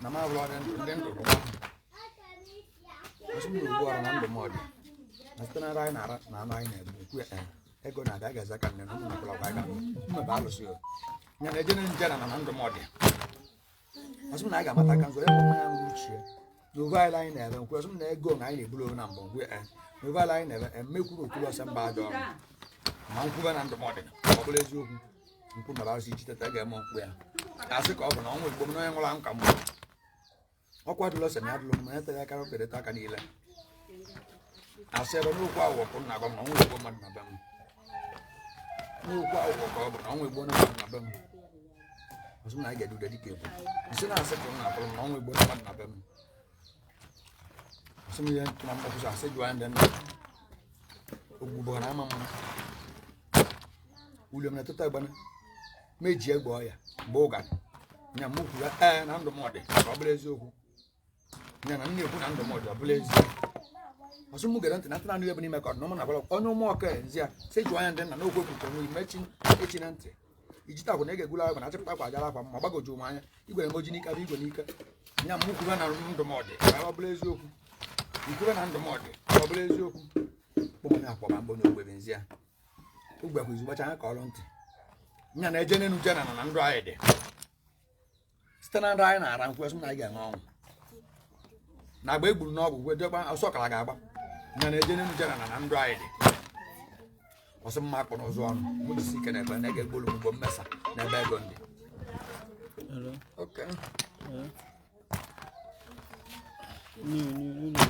na m abụrụ ọrịa ndị ndụ ọ sị m ugbu ọrụ na ndụ m ọdị na site na anyị na-ara na anụ anyị na-eme ekwu ya ego na-aga ga eze ka nne na ụmụ nakwara gwa aga mmebe alụsị ya na-eje n'enu jee n'ana na ndụ m ọdị ọ sị m na a ga-amata aka ngwere nwa ya nwere uche n'oge anyị anyị na-ere nkwe ọ sị m na ego na anyị na-eburu onwe na mbụ ngwe e n'oge anyị anyị na-ere emekwuru okpuru ọsọ mba ajọ ọrụ ma nkwube na ndụmọdụ ọ bụrụ eziokwu nkwu mara asị ichi teta ga-eme nkwụ ya asị ka ọ bụ na ọnwa igbo m na onye nwụrụ anwụ ka mgbe ọkwa dụlọ sị na ya dụlọ m ya tere aka okereta aka niile asị ebe n'okwu ahụ ọkụ na agwa m na ọnwa igbo mmadụ na be m n'okwu ahụ ka ọ bụ na ọnwa igbo na mmadụ na be m ọ sị m na a ga-ede ude dịka egwu nsị na-asị ka m na-akpọrọ m na ọnwa igbo na mmadụ na be m ọ sị m ihe ntụ na mgbakụsọ asị jụọ ya ndị nna ogbugbo na ama mma uliom na tụta gbana meji egbe ọya bụ ụga nya m kwuru ee na ndụ m ọ dị ka ọ bụrụ eziokwu ya na nne ekwu na ndụmọdụ ọ bụla ezi ọ sị m gere ntị na ntị na-anụ ebe n'ime ka ọdụnụmụ na-agwara onye ụmụ ọka nzi ya si jụọ anya ndị nna n'okwu ekwucha onwe ime chi echi na ntị ijita agwa na ege egwula agwa na achịpụta akwa ajara akwa ma gbagoju m anya igwe na moji n'ike bụ igwe n'ike nya m kwube na ndụmọdụ ka ọ bụla eziokwu ikwube na ndụmọdụ ka ọ bụla eziokwu kpọmanye akpọba mgbe onye ogbebe nzi ya ogbe kwa izugbacha anya ka ọrụ ntị nya na-eje n'enu jee n'ana na ndụ anyị dị site na nra anyị na-ara nkwe sị na anyị ga-enwe ọnwụ na agba egburu n'ọgwụ gwe jekwa ọsọ ọkara ga-agba nya na-eje n'enu jee n'ana na ndụ anyị dị ọ sị m ma akpụ n'ụzụ ọnụ mụ jisi ike na-ekpe na ị ga-egbolu m ugbo mmesa na ebe ego ndị Hello. Okay. Hello. New, new, new, new.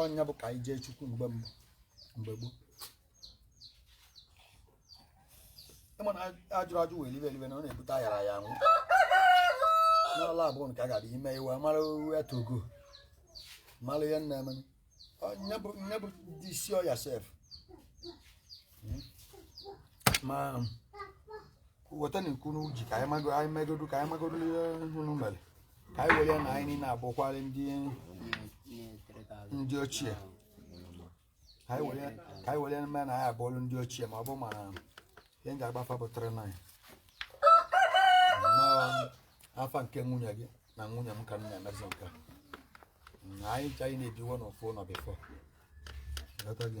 ọ nya bụ ka anyị jee chukwu mgbe mbụ mgbe gboo ị ma na ajụrọ ajụ wee libe elibe na ọ na-ebute ayarọ aya anwụ n'ọla abụọ nke a ga-abịa ime iwe mara uwe togo mara ihe a na-eme ihe bụ ihe bụ dị isi ọya sef ma weta na ikwu n'uji ka anyị mago- anyị megodu ka anyị magodu ihe unu mere ka anyị were ya na anyị niile abụkwara ndị ndị ochie ka anyị were ya- ka anyị were ya mee na anyị abụlụ ndị ochie ma ọ bụ mana ihe m ga-agwa fa bụ 39 nnọọ afa nke nwunye gị na nwunye m ka m na-emezi nke a. Mm, anyị ncha anyị na-ebiwo n'ofu ụlọ before Ghọta gị?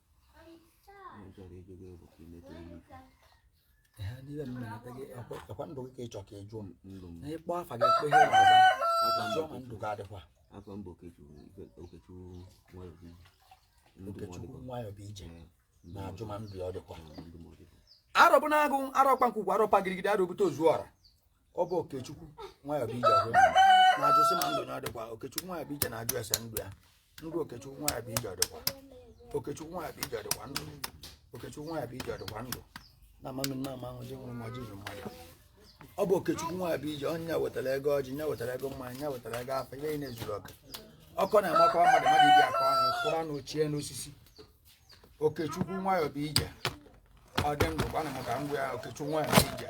ọkwa ndụ gị ka ịchọ ka ị jụọ m na ịkpọ afa gị kpe ihe ọzọ jụọ ma ndụ gị adịkwa afọ mbụ okechukwu nwayọ bụ ije na-ajụ ma ndụ ya ọ dịkwa arọbụ n'agụ arọkpa nkwukwu arọpa gidigidi arọbute ozu ọra ọ bụ okechukwu nwayọ bụ ije ahụ na-ajụ sị ma ndụ ya dịkwa okechukwu nwayọ bụ ije na-ajụ ese ndụ ya ndụ okechukwu nwayọ bụ ije dịkwa okechukwu nwayọ bụ ije dịkwa ndụ okechukwu nwayọ bụ ije dịkwa ndụ na amami nna ama ahụ ji nwụrụ ma ji mmadụ ọ bụ okechukwu nwayọ bụ ije onye wetara ego ọjị onye wetara ego mmanya onye wetara ego afa ihe na-ezuru ọka ọkọ na-amakwa mmadụ mmadụ ibi akọ ọnụ kwụrụ anụ ochie n'osisi okechukwu nwayọ bụ ije ọ dị ndụ gwana m ka m gwa ya okechukwu nwayọ bụ ije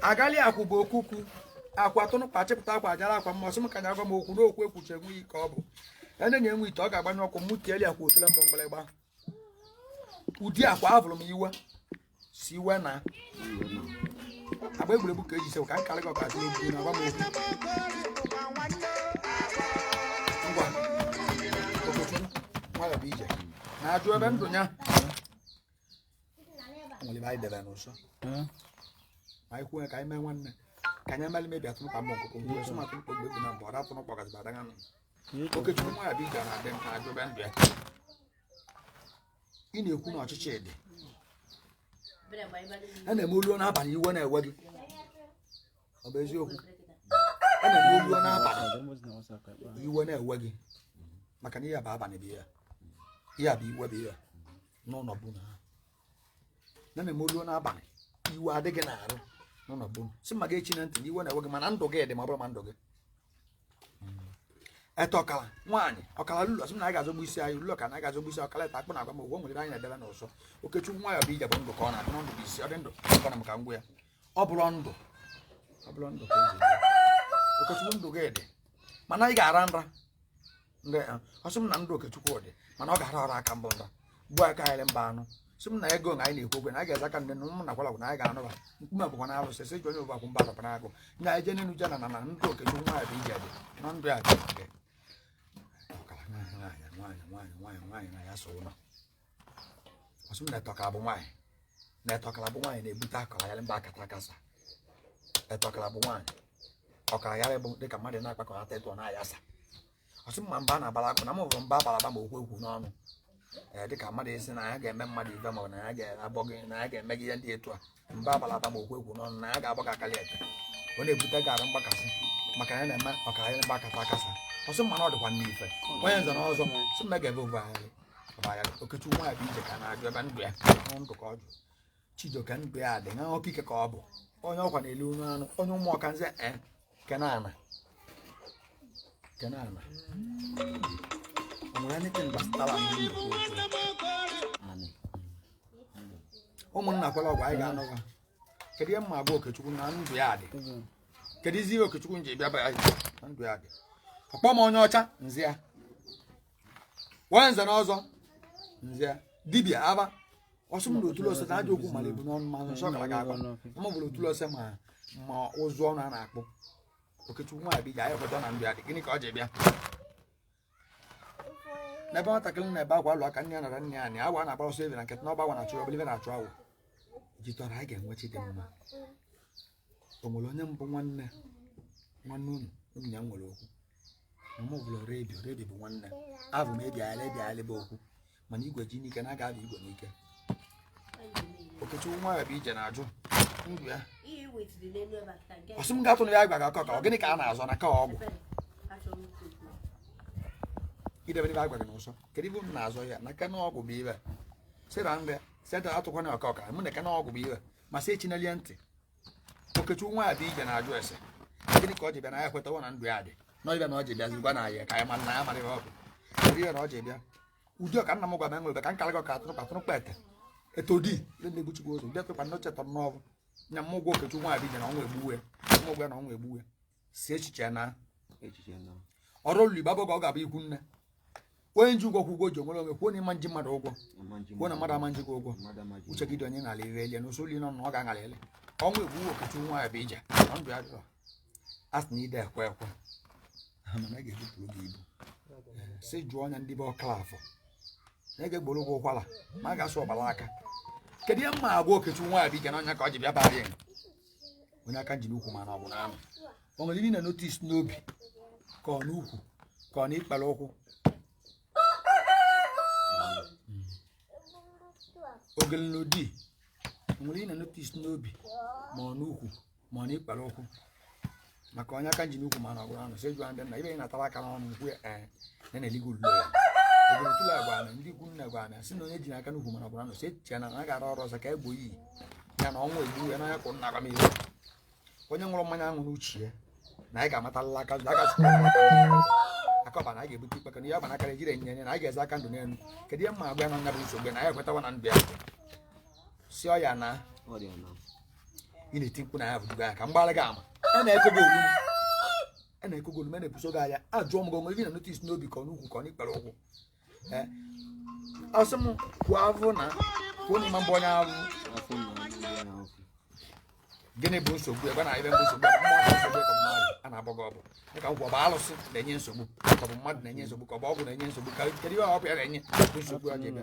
agali akwụ bụ ọkụkụ akwụ tụnụkpa chịpụta akwa ajara akwa mmasị m ka nya gwa m okwu n'okwu ekwuchi enweghị ike ọ bụ ya na enwe ite ọ ga-agbanye ọkụ mụ tieli akwụ otule mbọ mgbịrịgba odi akwụ abụrụ m iwe siwe na agba egwuregwu ka eji sewe ka anyị karịa gị ọkazị n'okwu na agwa m okwu ngwa okechukwu nwayọ bụ ije na-ajụ ebe ndụ ya nwere ibe anyị debe n'ụsọ ma anyị kwuo ya ka anyị mee nwanne ka anyị emeli mebi atụrụ ka mma ọkụkọ mgbe sọ maka mkpọ egwu na mgbe ọra atụrụkpa ọgazi badaga nụ okechukwu nwayọ bụ ije na-adị mkpa ajụ ebe ndụ ya ị na-ekwu na ọchịchị dị a na-eme oluo n'abalị iwe na-ewe gị ọ bụ eziokwu a na-eme oluo n'abalị iwe na-ewe gị maka na ihe a bụ abalị bụ ihe a. ihe a bụ iwe bụ ihe a. n'ụlọ bụ na ha na na-eme oluo n'abalị iwe adị gị n'arụ nọ na bụ si ma ga-echi na ntị na iwe na-ewe gị mana ndụ gị dị ma ọ bụrụ ma ndụ gị ete ọkala nwaanyị ọkala ululu sị m na anyị ga-azọgbu isi anyị ululu ọkala anyị ga-azọgbu isi ọkala ete akpụ na agwa m ụgwọ nwere anyị na-edebe n'ụsọ okechukwu nwayọ bụ ije bụ ndụ ka ọ na-ajụ na ndụ bụ isi ọ dị ndụ gwana m ka m gwa ya ọ bụrụ ndụ ọ bụrụ ndụ ka o ji dị. okechukwu ndụ gị dị mana anyị ga-ara nra ọ sị m na ndụ okechukwu dị mana ọ ga-ara ọra aka bụ nra gbuo aka anyị mba anụ sị m na ego na anyị na-ekwu okwe na anyị ga-eze aka ndị na ụmụ nakwala na anyị ga-anụba nkume bụkwa na alụsị sị ji onye ụbakwu mba papa na-agụ na anyị jee n'elu jana na na ndụ okechukwu nwayọ bụ ije dị na ndụ ya dị nwaanyị nwaanyị nwaanyị nwaanyị na ya so ụlọ ọ sị m na ete ọkara bụ nwaanyị na ete ọkara bụ nwaanyị na-ebute ọkara aghari bụ akata akasa ete ọkara bụ nwaanyị ọkara aghari bụ dịka mmadụ na-akpakọta etu ọ na-ayasa ọ sị m ma mba na-abara akụ na m hụrụ mba abalaba ma okwu ekwu n'ọnụ ee dịka mmadụ esi na ya ga-eme mmadụ ihe maọbụ na ya ga-abọ gị na ya ga-eme gị ihe ndị etu a mba abalata ma okwu ekwu n'ọnụ na ya ga-agba ka akali eke ọ na-ebute gara mgbakasị maka na ya na-eme ọka anyị gbakata akasa ọ sị mmanụ ọ dịkwa n'ife onye nze na ọzọ sị mma ga-ebe ovu anyị ọbaya okechukwu nwa ya bụ ije ka na-ajụ ebe ndụ ya ọnụ ndụ ka ọ jụ chijioke ndụ ya dị na ọkike ka ọ bụ onye ọkwa na-ele onye anụ onye ụmụ ọka nze e Kenana. Kenana. O nwere anything gbasatara ụmụnna kwere ọgwụ anyị ga-anọwa kedu ihe m ma-agwa okechukwu na ndụ ya dị keduzi ihe okechukwu nji bịa bịa na ndụ ya dị ọ kpọ m onye ọcha nzi ya onye nze na ọzọ nzi ya dibịa aba ọsọ m na otulu ose na ajọ okwu mara ebu n'ọnụ ma nsọ gara aga agwa ma bụrụ otulu ose ma ma ụzụ ọnụ a na-akpụ okechukwu nwa abịa ya ekweta na ndụ ya dị gịnị ka ọ ji bịa n'ebe nwatakịrị na-ebe akwa alụ aka nne ya anọrọ nna ya anọ awọ na-agba ọsọ ebe na nkịtị na ọgba agwọ na-achụ ọ bụlụ ive na-achụ awọ ji tọrọ anyị ga-enwe chi dị mma o nwere onye mbụ nwanne nwanne unu unu ya nwere okwu na mụ bụrụ redio redio bụ nwanne abụ m ebiala ebiala bụ okwu mana igwe ji n'ike na aga abụ igwe n'ike okechukwu nwa ya bụ ije na-ajụ ndụ ya ọ sị m ga-atụ na ya gwara ọkọ ka ọ gịnị ka a na-azọ na ka ọgwụ idebe ebe a gwara na ụsọ kedu ive unu na-azọ ya na ka na ọgwụ bụ ibe sịra nre seta atụkwana ọkọ ka mụ na ka na ọgwụ bụ ibe ma sị echinelie ntị okechukwu nwa abịa ije na-ajụ ese gịnị ka ọ ji bịa na anyị ekwetawo na ndụ ya dị n'ive a na ọ ji bịa zikwa na ya ka ya ma na ya mara ihe ọ bụ ihe na ọ ji bịa ụdị ọka nna m gwa m enwere ka nkara gị ọka atụrụ patụrụ kpete eto di ndị na-ebuchikwa ụzọ bịa kwekwa na ocheta na ọ bụ nya m ụgwọ okechukwu nwa abịa ije na ọnwa egbuwe m ụgwọ ya na ọnwa egbuwe si echiche na echiche na ọrụ olulu igbo abụghị ka ọ ga-abụ ikwu nne onye nji ụgwọ kwụ ụgwọ ji enwere onwe kwuo na ị ma nji mmadụ ụgwọ ama nji kwuo na mmadụ ama nji gị ụgwọ mmadụ ama ji uche gị dị onye ṅara ire elie na usoro nọ na ọ ga-aṅara ele ọnwa egbuwe okechukwu nwa ya bụ ije na ndụ ya dịrọ a sị na ide ekwe ekwe ha mana a ga-ebupụrụ gị ibu si jụọ ọnya ndị be ọkala afọ na ị ga-egboro ụgwọ ụkwara ma a ga-asụ ọgbara aka kedu ihe m ma-agwa okechukwu nwa ya bụ ije na ọ nya ka ọ ji bịa bara ya onye aka nji n'ukwu mana ọ bụ n'anụ o nwere ihe m na-notice n'obi ka ọ n'ukwu ka ọ n'ikpere ụkwụ ogele n'odi o nwere ihe m na-notice n'obi ma ọ n'ukwu ma ọ n'ikpere ụkwụ maka onye aka nji n'ukwu mana ọgụrụ anụ sị jụọ ndị nna ibe ị natara aka n'ọnụ nkwu ya ee na na-eligo ululo ya obodo tụlụ agwa na ndị ikwu nna gwa na si na onye ji n'aka n'ukwu mana ọgụrụ anụ si echiche na na gara ọrụ ọzọ ka egbo iyi ya na ọnwa egbu ya n'anya kwụ nna gwa m ihe onye ṅụrụ mmanya ahụ n'uche ya na anyị ga-amatalala aka nzu agasịkwa aka ọba na anyị ga-ebute ikpe kana ihe ọba na akara ejire enye enye na anyị ga-eze aka ndụ n'elu kedu ihe m ma agwa ya na nya bụ nsogbu ya na anyị ekwetawa na ndụ ya si ọ ya na Ọ dị ya na. ị na-eti mkpu na ya bụ duga ka m gbalị gị ama a na-eko gị olu a na-eko gị olu ma na-ebuso gị anya ajụọ m gị onwe gị na notis n'obi ka ọ n'ukwu ka ọ n'ikpere ụkwụ Eh, ọ sị m kwuo avụ na kwuo na ịma mbụ onye avụ afọ na ọnụ ya ahụ gịnị bụ nsogbu ebe a na-ebe mbụ nsogbu ebe mmadụ nsogbu ka mmadụ a na-agba gị ọgwụ dịka ngwa ọ bụ alụsị na-enye nsogbu ka ọ bụ mmadụ na-enye nsogbu ka ọ bụ ọgwụ na-enye nsogbu ka kedu ihe ọ bụ ya na-enye bụ nsogbu a ga-eme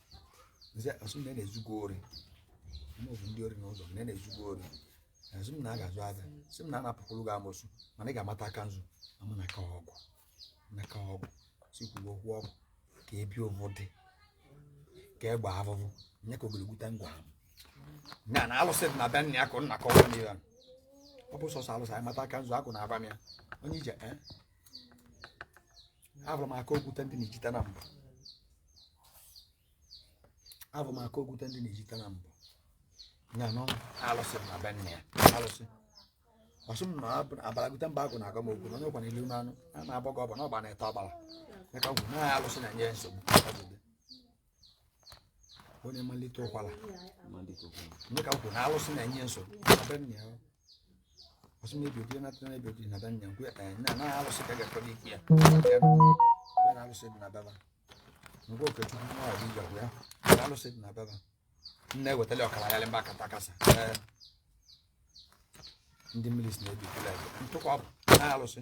ọ sị m na a na-ezu gị ori maọbụ ndị ori n'ụzọ na na-ezu gị ori sị m na a ga-azụ aja sị m na a na-apụkwuru gị amosu mana ị ga-amata aka nzu amụ na aka ọgwụ na aka ọgwụ si kwuru okwu ọgwụ ka ebi ụvụ dị ka egbe avụvụ nye ka ogologo ta ngwa ahụ na na alụsị dị na be nna ya ka nna kọwa n'ihe ọ bụ sọsọ alụsị anyị mata aka nzu agwụ na-agwa m ya onye ije ee avụrụ m aka okwute ndị n'ijite nambọ avụ m aka okwute ndị n'ijite nambọ nya nọ alụsị dị na be nna ya alụsị ọ sị m na abụ- abalagute mba agwụ na-agwa m okwu na onye kwana ilu n'anụ a na-abọ gị ọbọ na ọ gba n'ete ọbala ya ka m kwuru na ya alụsị na-enye ya nsogbu onye mmalite ụkwara onye ka m kwuru na alụsị na-enye nsogbu ọ sị m ebi obi na tana ebi na be nna ya nkwe eh na na alụsị ka ga-ekpere ikpe ya nkwe na alụsị dị na be va ngwa okechukwu nwa ọdị ije ọgwụ ya na alụsị dị na be va nne wetali ọkala ya mba kata kasa ee ndị mmiri si na-ebi kele ntụkwa bụ na alụsị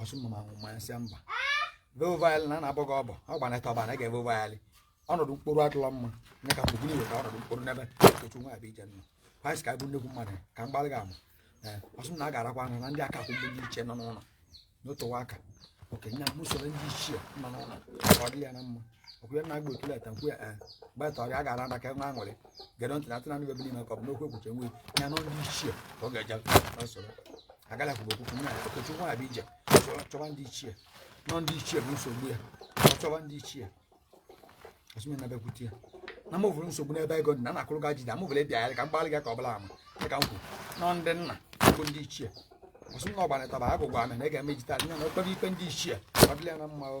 ọ sị m na ma mma ya sị mba vovayalị na na-abọ gị ọbọ ọ gba n'ete ọbala ị ga vovayalị ọnọdụ mkpụrụ adịla mma nye ka mgbe iweta ọnọdụ mkpụrụ n'ebe okechukwu nwa abịa ije nọ kwanyị ka ọ bụ nnekwu mmadụ ka m gbalị gị ama ọ sị m na a ga-arakwa anya na ndị aka akwụ bụ ndị ichie nọ n'ụlọ n'otowa aka okenye m usoro ndị ichie nọ n'ụlọ ka ọ dị ya na mma okwuye na agba otule ete nkwe ee gbata ọrịa a ga-ara aka ka enwe aṅụrị gere ntị na atụ nanị bebe n'ime ka ọ bụ n'okwu ekwuche nwe ya na ndị ichie ka ọ ga-eje na nsoro agala kwuba okwukwu nna ya okechukwu abịa ije chọwa- chọwa ndị ichie nọ ndị ichie bụ nsogbu ya ọ chọwa ndị ichie ọ sị m na bekwute ya na m vụrụ nsogbu n'ebe ego dị na na-akụrụ gị ajide amụvụrụ ịbịa ya ka m gbalị gị ka ọ bụla ama dị ka m kwuru nọ ndị nna bụ ndị ichie ọ sị m na ọgbanịtaba agụgwa amị na ị ga-emejita nya na o kpebe ikpe ndị ichie ọ dịla ya na mma o.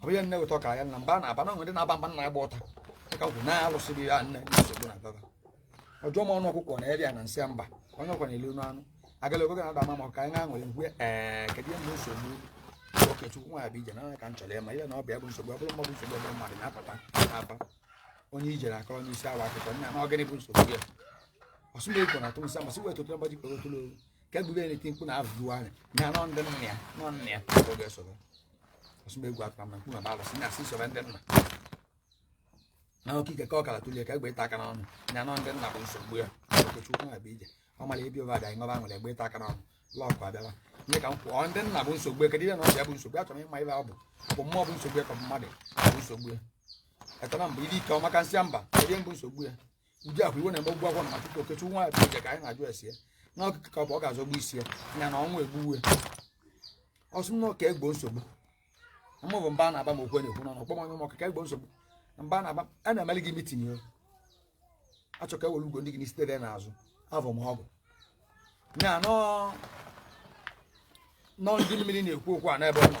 ọ bụghị nne ụtọ ka ya nna mba na-aba na nwere na-aba mba na-agba ụta dịka kwụ na alụsịrị ya nne nsogbu na baba ọjọọ ma ọnụ ọkụkọ na eri ya na nsị ya mba onye ọkwa na-elu ọnụ anụ agala ogogo na-ada ama ma ka anyị ga-aṅụrị ngwe ee kedu ihe bụ nsogbu okechukwu nwa bụ ije na ka m chọrọ ịma ihe na ọ bụ ya bụ nsogbu ọ bụrụ mmadụ nsogbu ọ bụrụ mmadụ na-apụta na-aba onye ijere akọrọ onye isi awa akụkọ nna na ọ gịnị bụ nsogbu gị ọ sị na-ekwo na atụ nsị amasị wee tụtụ mgbaji kpere otụlụ ka egwube na-eti mkpu na arụrụ ahụ na anọ ndị nna ya nọ nna ya ka ọ ga-esoro ọsụgba egwu atara na mkpu na balụsị na asị soro ndị nna na oke ike ka ọkala tule ka egbe ịta aka n'ọnụ na anọ ndị nna bụ nsogbu ya okechukwu na abịa ije ọ mara ebi ụba abịa ṅụba nwere egbe ịta aka n'ọnụ lọkụ abịala ihe ka m kwụọ ndị nna bụ nsogbu ya kedu ihe na ọ bụ ya bụ nsogbu ya chọrọ ịma ibe ọ bụ ọ bụ mmụọ bụ nsogbu ya ka ọ bụ mmadụ bụ nsogbu ya etara mbụ iri ike ọ maka nsị mba kedu ihe bụ nsogbu ya ụdị akwa iwe na-eme ụgwọ na maka okechi nwa ya bụje ka anyị na-ajụ esi ya na ọkụkọ ka ọ bụ ọ ga-azọgbu isi ya ya na ọnwa egbuwe ọ sị m na ọ ga-egbo nsogbu mụ bụ mba na-aba m okwe na-ekwu n'ọnụ kpọm onye m ọkụkọ egbo nsogbu mba na-aba a na-emeli gị mitin ya achọ ka ewere ugo ndị gị n'isi tere n'azụ avọ m ọgụ nya na ọ ndị mmiri na-ekwu okwu a n'ebe ọ nọ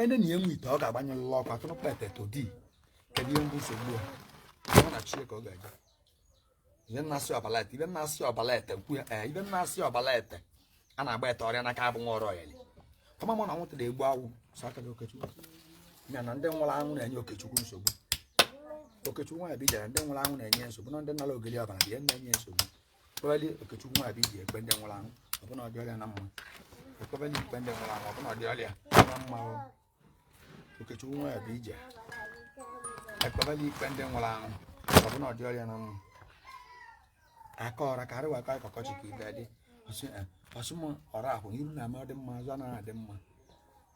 ene na enwe ite ọ ga-agbanyelụla ọkụ atụrụkpa ete odi kedu ihe bụ nsogbu ya ọ na chi ka ọ ga-aga ibe na-asị ọbala ete ibe na-asị ọbala ete nkwu ya ee ibe na-asị ọbala ete a na-agba ete ọrịa n'aka abụ nwa ọrụ ọyali ọma mụ na nwụta na-egbu agwụ so aka gị okechukwu ya na ndị nwụrụ anwụ na-enye okechukwu nsogbu okechukwu nwa ya bụ ije ndị nwụrụ anwụ na-enye nsogbu na ndị nara ogoli ọbala bụ ihe na-enye nsogbu kpebali okechukwu nwa abịa ije ikpe ndị nwụrụ anwụ ọ bụ na ọ dịrị ya na mma ekpebali ikpe ndị nwụrụ anwụ ọ bụ na ọ dịrị ya na mma o. okechukwu nwa abịa ije ekpebali ikpe ndị nwụrụ anwụ ọ bụ na ọ dịrị ya na mma aka ọra ka arịwa aka ọkọchị ka ibe dị ọsị eh, ọ sị m ọra ahụ iru na-eme ọ dị mma azụ anaghị adị mma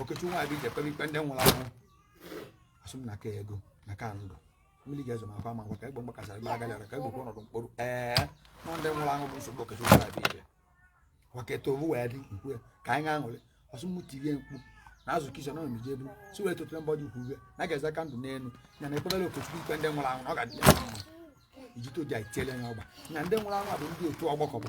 Okechukwu nwa Abija ekpere ikpe ndị nwụrụ anwụ ọ sị m na ka ego na ka ndụ mmiri ga-ezo ma akwa ma ngwa ka egbe mgbakasara ebe agali ka egbe kwa ọnọdụ mkpụrụ ee na ọ ndị nwụrụ anwụ bụ nsogbu Okechukwu nwa Abija waketa owu wee dị ikwu ya ka anyị ga-aṅụrị ọ sị m tirie mkpu na azụ kichin ọ na-emeje ebe si wee tụtụrụ mbọ dị ukwu uwe na ga-eze aka ndụ n'elu ya na ekpebere Okechukwu ikpe ndị nwụrụ anwụ na ọ ga-adị ya mma ijite odi anyị tiele ya ọgba na ndị nwụrụ anwụ a bụ ndị otu ọgbakọ bụ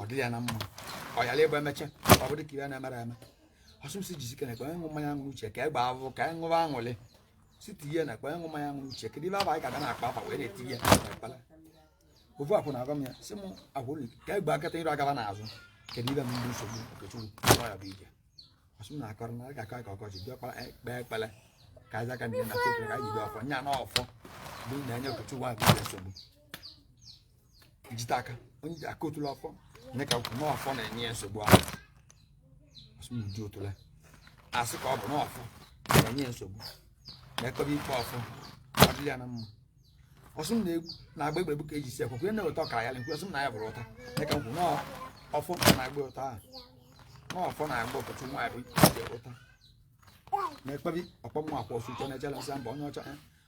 ọ dịrị ya na mma ọ yara ịbụ emecha ọ dị ka ihe na-emere eme ọ sị m sị jizi kene kpee ṅụ mmanya ṅụrụ uche ka e gbaa avụ ka e ṅụba aṅụrị si tinye na kpee ṅụ mmanya ṅụrụ uche kedu ibe abụ anyị ga-aga na-akpa afa wee na-eti ya kpala ofu akwụ na-agwa m ya sị m akwụ ụlọ ka e gbaa nkịta iru agaba n'azụ kedu ibe m ndị nsogbu okechukwu ọ ya bụ ije ọ sị m na-akọrọ na a ga-akọ ka ọkọchị bịa kpara kpee ekpele ka anyị aka ndị na-akọ ka anyị jide ọfọ nya na ọfọ bụ na-enye okechukwu ahụ nsogbu jite aka onye ji aka otule ọfọ nye ka kwuru n'ọfọ na-enye ya nsogbu ahụ ọsụ m odi otule asị ka ọ bụ n'ọfọ na-enye ya nsogbu na ekọba ikpe ọfọ adịla ya na mma ọsụ m na-agba egbe egbu ka eji si ekwe kwunye na-eweta ọkara ya nkwe ọsụ m na ya bụrụ ụta nye ka m kwuru n'ọfọ na-agba ụta ahụ n'ọfọ na-agba okechukwu nwa bụ ije ụta na-ekpebi ọkpọmụ akwa ọsụ ụtọ na-ejela nsị mba onye ọcha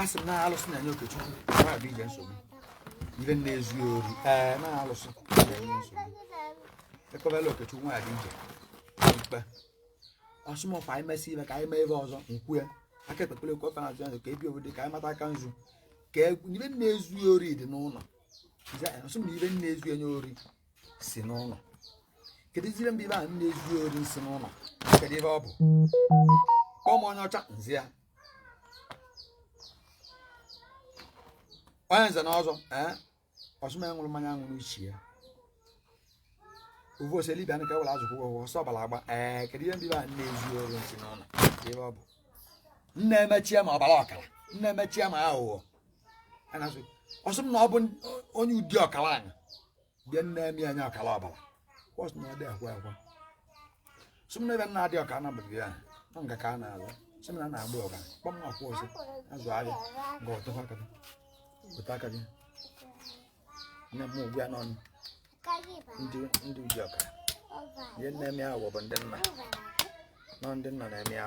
asị m na alụsị na-enye okechukwu na-abịa ije nsogbu ibe na-ezu ori ee na alụsị na-enye nsogbu ekọbela okechukwu na-abịa ije ikpe ọsụ m ọkwa anyị mesị ibe ka anyị mee ebe ọzọ nkwue aka ekpekpere okwu ọka na-azụ ya ka ebi obodo ka anyị mata aka nzu ka e, ibe na-ezu ori dị n'ụlọ ọsụ m na ibe na-ezu ya ori si n'ụlọ kedu ibe mba ibe a na-ezu ori si n'ụlọ kedu ibe ọ bụ kpọọ m onye ọcha nzi ya onye nze na ọzọ ee eh? ọsụma ya ṅụrụ mmanya ṅụrụ isi ya ovu ose dibịa nke were azụ kwụgwọ ọsọ ọbara agba ee kedu ihe ndị be a na-ezu ori nsị n'ụlọ ebe ọ bụ nne emechie ma ọbara ọkara nne emechie ma aghụghọ A na-asụ, ọsụ m na ọ bụ n- onye ụdị ọkara anya bịa na-eme ya ọkara ọbara ọsụ na ọ dị akwa akwa sụ m na ebe nna adị ọka anabụghị ya na nga ka a na-alụ sị m na a na-agba ọka kpọm akwụ ọzọ azụ ahịa ga ọtọkwa aka gị weta aka gị nne m ugwu ya n'ọnụ ndị ụdị ọka ihe na-eme ahụ bụ ndị nna nọ ndị nna na-eme ya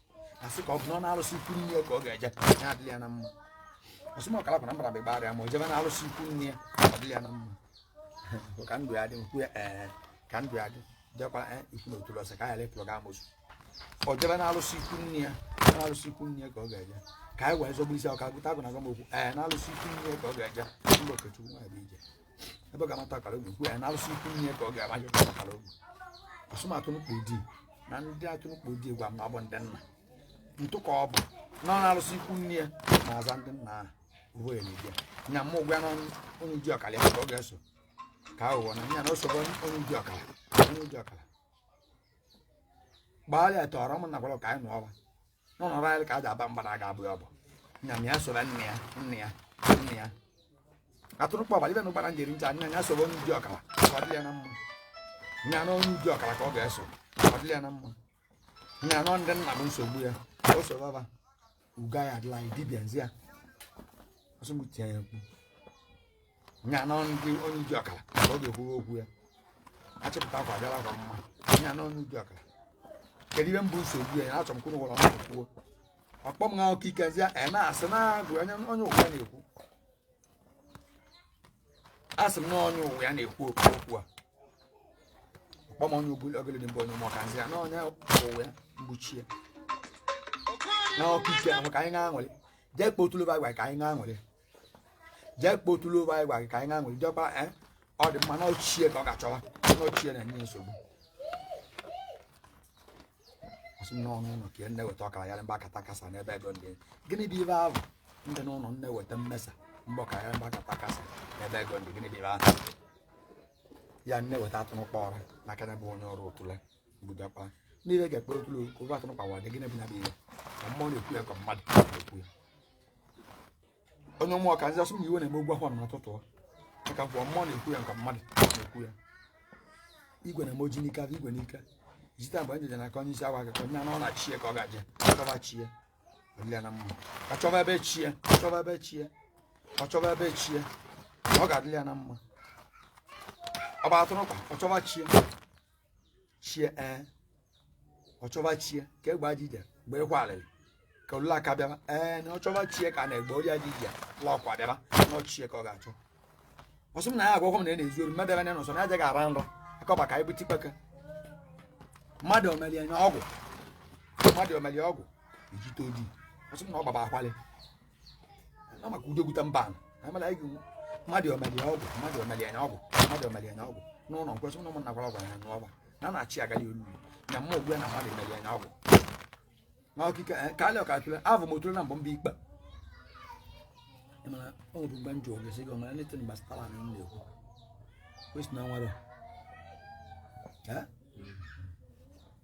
asị ka ọ bụ na ọ na arụsị ikwu nne ya ka ọ ga-eje ya adịla ya na mma ọsị m ọkara kwara mbara bụ ịgba arịa ma o jebe na arụsị ikwu nne ya ọ dịla ya na mma Bụ ka ndụ ya dị nkwu ya ee ka ndụ ya dị jekwara ee ikwu na otulu ọsị ka anyị lepụrụ ga amosu ọ jebe na arụsị ikwu nne ya na arụsị ikwu nne ya ka ọ ga-eje ka anyị wee zọgbu isi ọka gụta agụ na-agwa m okwu ee na arụsị ikwu nne ya ka ọ ga-eje mba okechukwu nwa bụ ije ebe ọ ga-amata ọkara ogwu kwuo ya na arụsị ikwu nne ya ka ọ ga-amaghị ọkara ogwu ọsụ m atụnụkpa odi na ndị atụnụkpa odi gwa m na ọ bụ ndị nna ntụ ka ọ bụ na ọ na arụsị ikwu nne ya na-aza ndị nna ahụ uwe ya na-ebi ya nya mụ gwa na onye ụdị ọkara ya ka ọ ga-eso ka aghụghọ na nya na o sobe onye ụdị ọkara onye ụdị ọkara gbaa ya tọrọ m na gwara ka anyị nụọ ọba n'ọnọrọ anyị ka a ji aba mba na aga abụ ya ọ bụ nya na ya sobe nne ya nne ya nne ya atụnụkpa ọbara ibe na ụgbara njeri ncha nya ya sobe onye ụdị ọkara ka ọ dịrị ya na mma nya na onye ụdị ọkara ka ọ ga-eso ọ dịrị ya na mma nya na ndị nna bụ nsogbu ya ka o sobe ọba uga ya adịla anyị dibịa nzi ya ọsụ m tie ya mkpu nya nọ ndị onye odi ọkala ka ọ ga-ekwuru okwu ya achịpụta akwa abịala akwa mma nya nọ onye odi ọkala kedu ihe bụ nsogbu ya achọ m kwuru gwara ọnụ kwuo ọkpọ m ha oke ike zia a na-asị na agụ onye onye ụwa ya na-ekwu asị m na onye ụwa ya na-ekwu okwu okwu a ọkpọ m onye ogolo ogolo dị mbụ onye ụmụ ọka nzi ya na onye ụwa ya mgbuchie na ọkụ ike ahụ ka anyị ṅaa aṅụrị jee kpọọ otule ofu ka anyị ṅaa aṅụrị jee kpọọ otule ụba anyị gwa gị ka anyị ga-aṅụrị jekwa eh, ọ dị mma na ọ chi ya ka ọ ga-achọwa na ọ chi ya na-enye nsogbu asị m n'ọnụ ụlọ ka ihe na-eweta ọkala ya mba kata kasa n'ebe ego ndị gịnị bụ ibe ahụ ndị n'ụlọ na-eweta mmesa mba ọkala ya mba kata kasa n'ebe ego ndị gịnị bụ ibe ahụ ya na-eweta atụrụkpa ọra n'aka ya bụ onye ọrụ otule mgbudakpa n'ihe ga-ekpe otule ofu atụrụkpa odi gịnị bụ ya bụ ihe ka mmụọ na-ekwu ya ka mmadụ na-ekwu ya onye mmụọ ka nzi asị m iwe na-eme ọgwụ ahụ n'ụtụtụ maka mgbe mmụọ na-ekwu ya ka mmadụ na-ekwu ya igwe na-eme oji n'ike abụ igwe n'ike ijite mgbe njeje na aka onye isi agwa gị ka onye anọ na chi ya ka ọ ga-eje chọba chi ya ọ dịlị ya na mma ka chọba ebe chi ya ka chọba ebe chi ya ọ chọba ebe chi ya ọ ga-adịlị ya na mma ọ bụ atụrụkpa ọ chọba chi ya chi ya ee ọ chọba chi ya ka egbe aja ije mgbe ịkwa alịrị ka ululu aka bịaba ee na ọ chọba chi ya ka na egbe oya ji ije la ọkwa bịaba na ọ chi ya ka ọ ga-achọ ọ sị m na ya agwagwọ m na ya na-ezu ori mmadụ ebe na nọsọ na aja ga-ara nrọ akọba ka anyị bute ikpeke mmadụ o meli nya ọgwụ mmadụ o meli ọgwụ ijite odi ọ sị m na ọ gbaba akwalị maka udo gwuta mba amala anyị ga-enwe mmadụ o meli ọgwụ mmadụ o meli nya ọgwụ mmadụ o meli nya ọgwụ n'ụlọ nkwesị ụlọ ụmụnna gwara ọgwụ anya n'ọgba na na-achị agali ululu na mma ogbu ya na mmadụ emeli nya ọgwụ na ọkịka ka alị aka otule avụ m otule na mbụ mba ikpe mana ọ bụ mgbe m ji oge sị gị ọmara nete mgbe stara na nna ekwu kwesị na nwere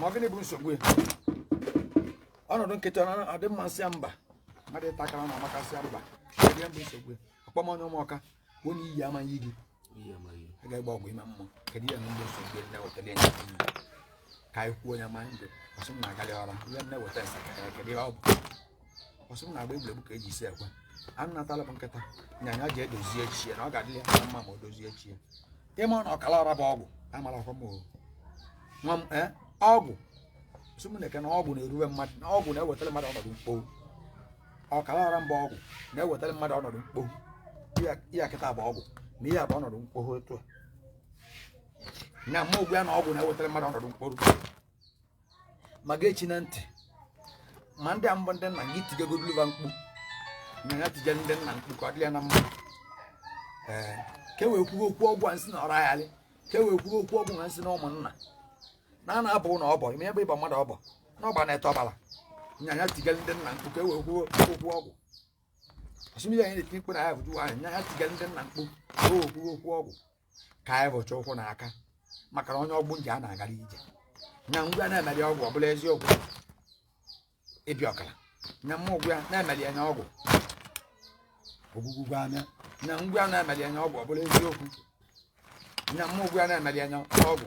ma gịnị bụ nsogbu ya ọnọdụ nkịtị adị mma ọ sị mba mmadụ ịta akara na amaka ọ sị mba ya bụ nsogbu ya ọkpọ m onye ụmụọka bụ onye iyi amaghị gị a ga-egba ọgwụ ime mmụọ kedu ihe ndị nsogbu ya na-ewetara ya ka anyị kwuo ya ma ndụ ọ sị m na agali ọra ihe na-eweta nsaka kedu ihe ọ bụ ọ sị m na-agba egwuregwu ka eji isi ekwe anụ natala m nkịta nyanya jee dozie chi ya na ọ ga-adị ya na mma ma o dozie chi ya ịma na ọkala ọra bụ ọgwụ amara ọkwa m o nwa m ee ọgwụ sị m na-eke na ọgwụ na-erube mmadụ na ọgwụ na-ewetara mmadụ ọnọdụ mkpọrọ ọkala ọra mba ọgwụ na-ewetara mmadụ ọnọdụ mkpọrọ ihe a kịta bụ ọgwụ na ihe a bụ ọnọdụ mkpọrọ otu a na mma ogbu ya na ọgwụ na-ewetara mmadụ ọnọdụ mkpọrọ ma gị echina ntị ma ndị a bụ ndị nna gị tijegoduluva mkpu na ya tije ndị nna mkpu ka ọ dị ya na mma ee ka e wee kwuo okwu ọgwụ na nsi na ọrụ aghalị ka e wee kwuo okwu ọgwụ na nsi na ụmụnna na a na-abụ na ọbọ ime ebe ịba mmadụ ọbọ na ọba na-ete ọbara nya ya tigara ndị nna mkpu ka e wee kwuo okwu ọgwụ ọsụmihe anyị na-eti mkpu na ya bụ juwa anyị nya ya tigara ndị nna mkpu ka e wee kwuo okwu ọgwụ ka anyị bu Chukwu n'aka maka na onye ọgbụ nje a na-agara ije nya m gwa ya na-emeli ọgwụ ọ bụla eziokwu ịbịa ọkara nya mụ agwa ya na-emeli anya ọgwụ ogwugwugwu anya nya m gwa ya na-emeli anya ọgwụ ọ bụla eziokwu nya mụ agwa ya na-emeli anya ọgwụ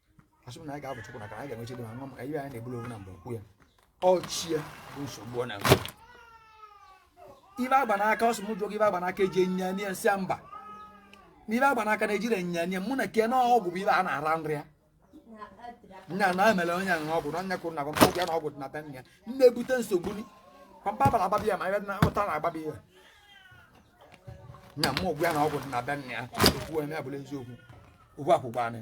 asị m na anyị ga-ebu Chukwu n'aka anyị ga-enwe chi dị mma nwa m anyị anyị na-ebulu onwe na mgbe okwu ya ọchịa bụ nsogbu ọ na-enwe ive a gba n'aka ọ sị m jụọ gị ive a gba n'aka eji enyinya nye m sị ya mba na ive a gba n'aka na-ejiri enyinya nye mụ na ke na ọgwụ bụ ive a na-ara nri ya nya na emere onye ahụ ọgwụ na onye kwuru na pampa ya na ọgwụ dị na be nne ya na-ebute nsogbu ni pampa bara agbabi ya ma ebe na ụta na-agbabi ya nya mụ agwa ya na ọgwụ dị na be nne ya okwu eme abụla eziokwu okwu akwụkwọ anyị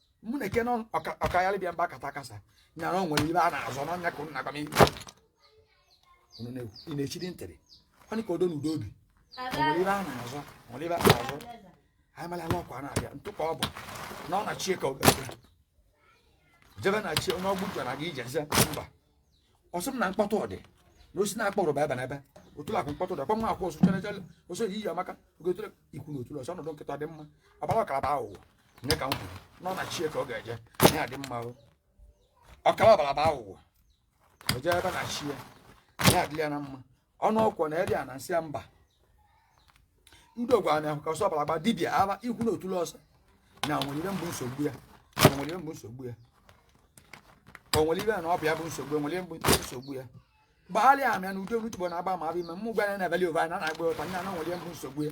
mụ na eke ọkayalị bịa mba kata kasa nyara o nwere ive a na-azọ n'ọnya ka ụnụ na-agwa m ị na-echiri ntịrị ọ dị ka odo na udo obi o nwere ive a na-azọ o nwere ive a na-azọ anyị mara ala ọkwa na-abịa ntụ ka ọ bụ na ọ na chie ka ọ ga-abịa jebe na chie onye ọgbụ jara gị ije ze mba ọ sị m na mkpọtụ ọdị na osi na-akpọrọ bụ ebenebe otule akụ mkpọtụ dị akwa nwa akwụ ọsụ chere chere ọsọ yi iyi amaka ogotere ikwu na otule ọsọ ọnọdụ nkịta dị mma ọbara ọkara baa ụwa nne ka m kwuru na ọ na chie ka ọ ga-eje na ya dị mma o ọkara ọbara baa ụwa o jee ebe na chie ya adịla ya na mma ọnụ ọkwọ na eri a na m sị ya mba udo ọgwụ amaka ọsọ ọbara gba dibịa aba ikwu na otule ọsọ na o nwere ive bụ nsogbu ya na o nwere ive bụ nsogbu ya o nwere ive na ọ bụ ya bụ nsogbu ya o nwere ive bụ nsogbu ya gbagharịa amịa na udo n'utubo na-agba ma abịa ime mụ gwara ya na ebeli ova na na-agba ụta nya na o nwere ive bụ nsogbu ya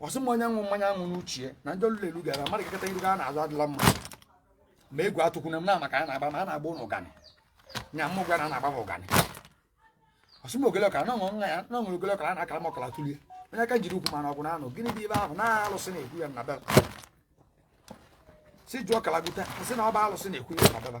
ọ sị m onye ṅụ mmanya ṅụ n'uchie na ndị ọlụlụ elu gara mmadụ kekọta iru ya n'azụ adịla mma ma egwu atụkwuna m na maka a na-agba ma a na-agba ụnụ ụganị nya mụ gwa na a na-agba m ụganị ọ sị m ogele ọkara na ọṅụ nwa ya na ọṅụ ogele ọkara a na-akara m ọkara tụlie onye aka jiri ukwu mana ọgwụ na anụ gịnị bụ ive ahụ na alụsị na-ekwu ya na be va sị jụọ kalagụta sị na ọ bụ alụsị na-ekwu ya na be va